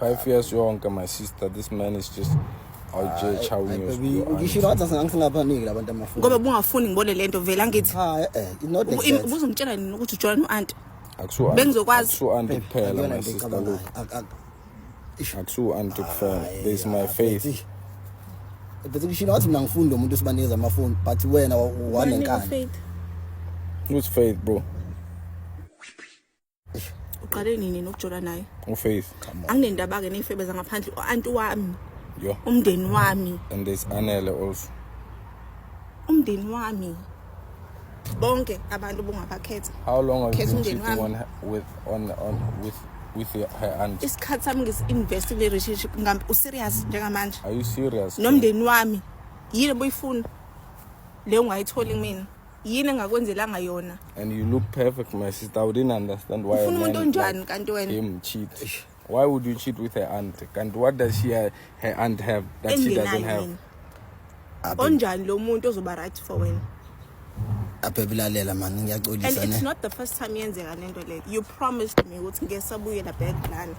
Five years yonke my sister this man is just awujeje awunyuzukishilo wathi singangsingabaniki labantu amafoni ngoba bungafuni ngibone le nto vele angithi hayi ah, eh, eh, eh ubuze ngitshela nini ukuthi ujola no-anti bengizokwazi akusu-anti kuphela my sister look akusu-anti kuphela there is my faith bese kushilo wathi mina ngifundi umuntu usibanikeza amafoni but wena wanenkani who's faith bro uqale nini nokujola naye ufaith anginendaba ke neyifebe zangaphandle uanti wami yo umndeni wami and there's anele also umndeni wami bonke abantu bongabakhetha how long have you been cheating on her, with on on with with her aunt isikhathi sami ngisi-invest kule relationship ngambe userious njengamanje are you serious nomndeni wami yini boyifuna le ungayitholi kumina yini engakwenzelanga yona and you look perfect my sister i wouldn't understand why ufuna umuntu onjani kanti wena him cheat why would you cheat with her aunt kanti what does she uh, her aunt have that she doesn't have onjani lo muntu ozoba right for wena abhebilalela mani ngiyaxolisa ne and it's not the first time yenzeka lento le you promised me ukuthi ngesabuyela back lana